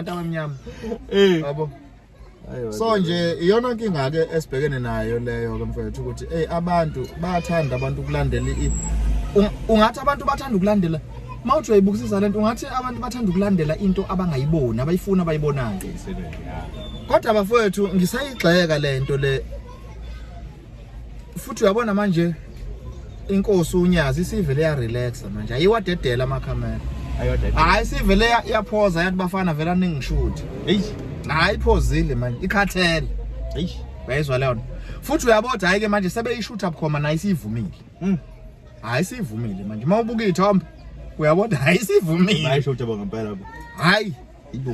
abantu abamnyama eh yabo so nje iyona nkinga ke esibhekene nayo leyo ke mfethu ukuthi hey abantu bayathanda abantu ukulandela i ungathi abantu bathanda ukulandela mawuthi uyayibukisisa lento ungathi abantu bathanda ukulandela into abangayiboni abayifuna abayibonayo kodwa bafowethu ngisayigxeka lento le futhi uyabona manje inkosi unyazi isivele ya relaxa manje ayiwadedela ama camera hayi sivele yaphoza yathi bafana vela ningishuthi hey hayi iphozile manje ikhathele hey uyayizwa leyo futhi uyaboda hayi ke manje sebeyishutha bukhoma nayo isivumile mm. hayi sivumile manje uma ubuka ithombe uyaboda hayi sivumile hayi shutha bangempela hayi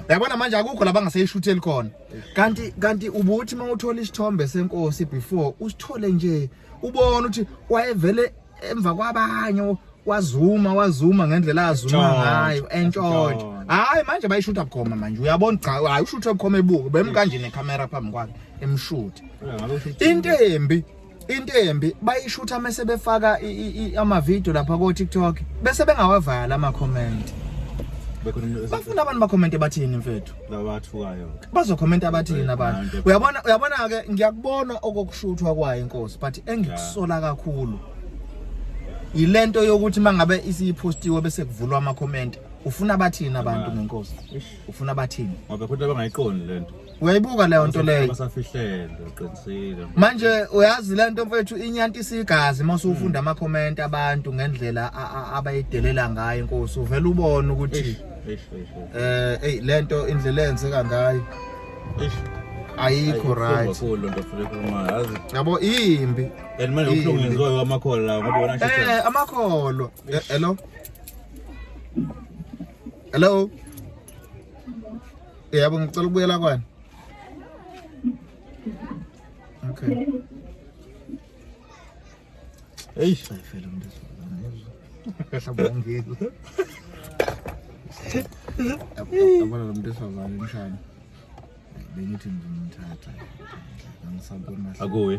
yabona manje akukho la bangaseyishutheli khona kanti kanti ubuthi uma uthola isithombe senkosi before usithole nje ubona ukuthi wayevele emva kwabanye wazuma wazuma ngendlela azuma ngayo entshontsho hayi manje bayishutha bukhoma manje uyabona cha hayi ushutha bukhoma ebuke bemkanje necamera phambi kwakhe emshuthe into embi into embi bayishutha mase befaka ama video lapha ko TikTok bese bengawavala ama comment bafuna abantu bakhommente bathini mfethu labathukayo bazokhomenta abathini abantu uyabona uyabona ke ngiyakubona okokushuthwa kwayo inkosi but engikusola kakhulu yilento yokuthi mangabe isiyipostiwe bese kuvulwa ama comment ufuna bathini abantu ngenkosi ufuna bathini ngoba futhi abangayiqondi lento uyayibuka leyo nto leyo basafihlele uqinisile manje uyazi le nto mfethu inyanti isigazi uma usufunda hmm. amakhomenti abantu ngendlela abayidelela ngayo inkosi uvela ubone ukuthi eh hey le nto indlela enzeka ngayo ayikho right yabo imbi and manje ubuhlungu ngenziwa kwamakholwa lawo ngoba wona shisa eh amakholwa eh, hello hello yabo ngicela ukubuyela kwani okay eyi ayifele umuntu esabongile abona lo muntu esazane mshana bengithi ngizomthatha angisabona akuye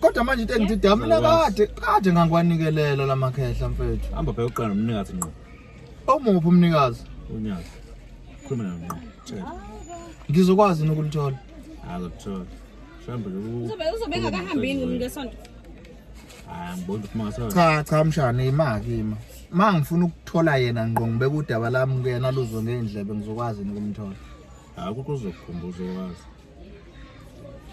Kodwa manje into engithi da mina kade kade ngangwanikelela lamakhehla mfethu. Hamba bheka uqala nomnikazi ngqo. Omuphi umnikazi? Unyazi. Khuluma naye ngqo. Tshela. Ngizokwazi nokulithola. Akuthola. Mhlawumbe loku. Uzobe uzobe engakahambi yini ngesonto? Hayi ngibona ukuthi mangasa. Cha cha mshana imaki ima. Ma ngifuna ukuthola yena ngqo ngibeka udaba lami kuyena luzwe ngendlebe ngizokwazi nokumthola. Hayi ukuthi uzokukhumbuza okwazi.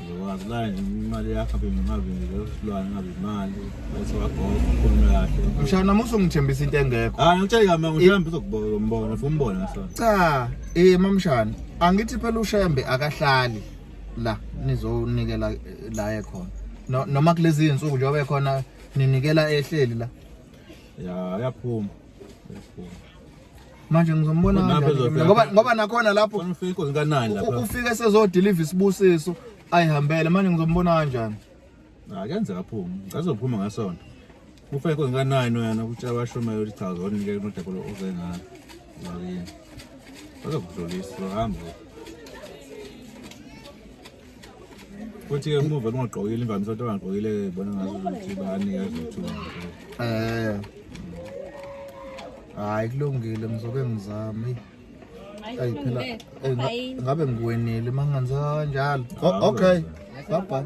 Ngizokwazi imali yakho abe ngingabi ngizosilwane ngabi imali bese wagogo ukhulume kahle. Mshana namusa ungithembisa into engekho. Hayi ngitshela kama ngihlambe uzokubona umbona ufuna umbona ngisona. Cha, eh mamshana angithi phela ushembe akahlali la nizonikela eh, la ekhona. No- Noma kulezi insuku njengoba ekhona ninikela ehleli la. Ya yaphuma. Yaphuma. manje ngizombona ngoba ngoba nakhona lapho ufike esezodeliva isibusiso ayihambele manje ngizombona kanjani akenzeka phuma ngazophuma ngasonto kufa inkosi kanani wena ukuthi abashumayo ukuthi cha zonike unodabolo oze ngalo ngakini bazokudlulisa bahamba futhi ke umuva lungagqokile imvamisa ukuthi abangagqokile bona ngazo ukuthi banika izithuba eh hayi kulungile ngizoke ngizame ayi phela ngabe ngiwenile mangenza kanjalo okay bye bye